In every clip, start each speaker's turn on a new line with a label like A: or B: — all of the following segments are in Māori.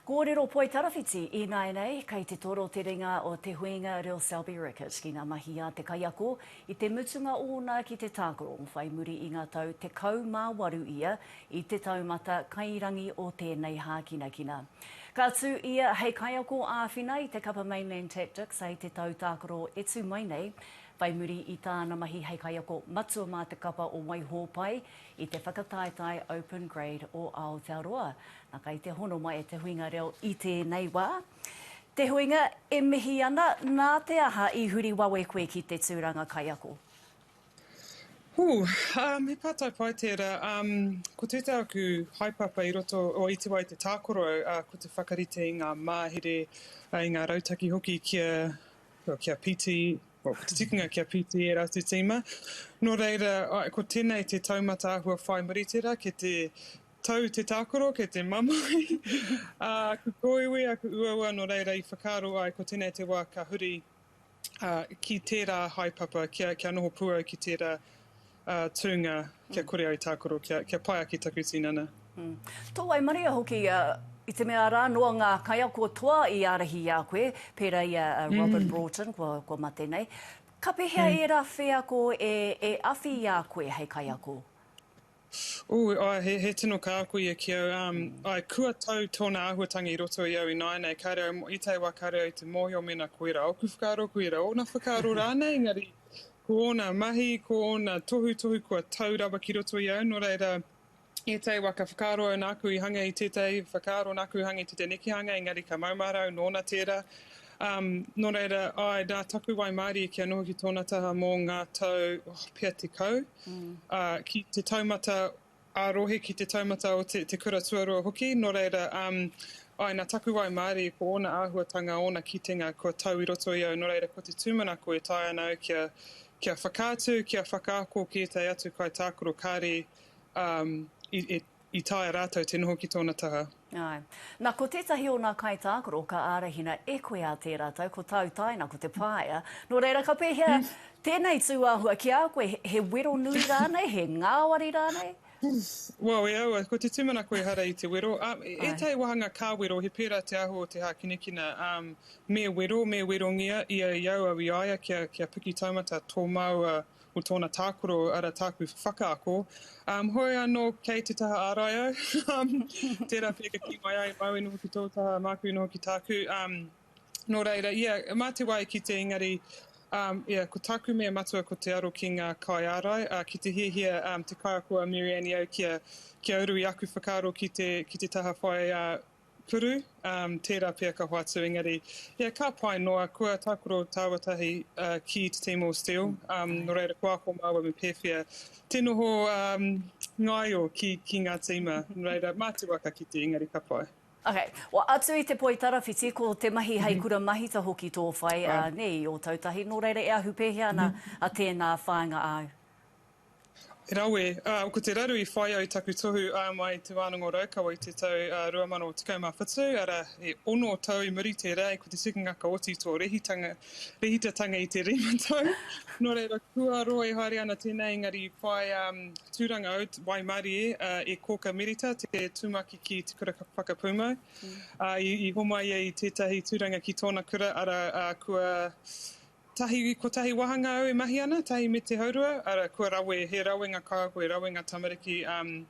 A: Kōrero Poitarawhiti Ināianei kei te toro te ringa o Te Huinga Reo Selby Rickett ki ngā mahi a te kaiako i te mutunga ōna ki te tākaro whai muri i ngā tau 18 ia i te taumata kairangi o tēnei hākinakina. Ka tū ia hei kaiako āwhina i te kapa Mainland Tactics hei te tau tākaro e tū mai nei. Whai muri i tāna mahi hei kaiako matua mā te kapa o Waihōpai i te whakataetae Open Grade o Aotearoa. Na kai te hono mai e te huinga reo i tēnei wā. Te huinga, e mihi ana, nā te aha i huri wawe koe ki te tūranga kaiako? Ooh,
B: me pātai pai tērā. Ko tētā aku haepapa i roto, o iti wā i te tākaro au, ko te whakarite i ngā māhere, i ngā rautaki hoki kia, kia piti, Te tikinga kia pīti ērā te tīma. Nō reira, ko tēnei te taumata āhua whai muri tērā, kei te tau te tākaro, kei te mamae aku kōiwi, aku uaua, nō reira i whakaaro ai ko tēnei te wā ka huri ki tērā haepapa, kia noho pū au ki tērā tūnga kia kore au tākaro, kia pai ake taku tinana. Tō
A: waimaria hoki, i te mea rā noa ngā kaiako toa i ārahi i a koe, pērā i a Robin Broughton kua mate nei. Ka pēhea ērā wheako e awhi i a koe hei kaiako? Ui, āe,
B: he tino kāko ia ki au. Āe, kua tau tōna āhuatanga i roto i au ināianei, kāre au i tae wā, kāre au i te mōhio mēnā koirā ōku whakaaro, koirā ōna whakaaro rānei, engari Ko ōna mahi, ko ōna tohutohu kua tau rawa ki roto i au, nō reira, ētahi wā ka whakaaro au nāku i hanga i tētahi whakaaro, nāku i hanga i tētahi nekehanga, engari ka maumahara au nōna tērā. Um, nō reira, āe rā, taku waimārie kia noho ki tōna taha mō ngā tau, oh, pea tekau, ā, ki te taumata ā-rohe ki te taumata o te kura tuarua hoki, nō reira, umm, āe, nā taku waimarie, ko ōna āhuatanga, ōna kitenga, kua tau i roto i au, nō reira, ko te tūmanako e taea ana au kia, kia whakaatu, kia whakaako ki ētahi atu kaitākaro, kāre, umm, i, i taea rātou te noho ki tōna taha. Āe. Na, ko
A: tētahi o nā kaitākaro ka ārahina e koe a tērā tau, ko tāu tāina ko Te Pāea. Nō reira, ka pēhea tēnei tūāhua ki a koe, he wero nui rānei, he ngāwari rānei? Well, e
B: aua, ko te tūmanako ehara i te wero. Ētahi wāhanga ka wero, he pērā te aho o te hākinakina. Me wero, me werongia ia i au au i a ia kia piki taumata tō māua Ko tōna tākaro, ara tāku whakaako. Um, hoi anō kei te taha ārai au. Um, tērā pea ka ki mai ai, māu noho ki tō taha, māku noho ki tāku. Um, nō reira, ia, mā te wā e kite engari, um, ia, ko tāku mea matua ko te aro ki ngā kai ārai, uh, ki te hiahia um, te kaiako a Mary Annie au kia, kia uru i aku whakaaro ki te, ki te taha whai, uh, Puru, um, tērā pea ka hoatu engari, yeah, ka pai noa, kua tākaro tāua tahi uh, ki te Timor Steel, um, no reira ko ako māua me pēwhea te noho um, ngaio ki, ki ngā tīma, no reira mā te waka ki te engari ka pai. Okay. Well, atu
A: i te poi tarawhiti, ko te mahi hei mhm. kura mahita hoki tō whai, uh, ne, i Ōtautahi, nō reira e ahu pēhea ana mm -hmm. a tēnā whāinga āu?
B: Rawe, ā, ko te raru i whai ai taku tohu ā mai Te Wānanga o Raukawa i te tau 2017, arā, he ono tau i muri tērā, ko te tikangaka oti tō rehitanga, rehitatanga i te rima tau. Nō reira, kua roa e haere ana tēnā, engari i whai tūranga au, waimarie, e Kōka Mirita, te tūmaki ki Te Kura Whakapūmau, ā, i homai ai i tētahi tūranga ki tōna kura, arā, kua Tahi, kotahi wāhanga au e mahi ana, tahi me te haurua, ara, kua rawe, he rawenga kāhui, rawenga tamariki, um,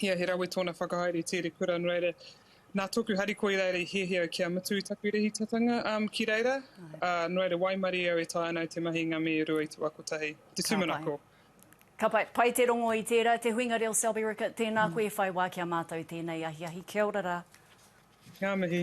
B: ia he rawe tōna whakahaere i tēri kura, nō reira, nā tōku harikoa i reira i hiahia au kia mutu i taku rehitatanga um, ki reira, uh, nō reira waimarie au e taea ana au te mahi i ngā mea e rua i te wā kotahi, te tūmanako. Ka pai,
A: pai te rongo i tērā. Te Huinga Reo Selby Rickett, tēnā koe e whai wā ki a
B: mātou
A: tēnei ahiahi. Kia ora rā. Ngā mihi.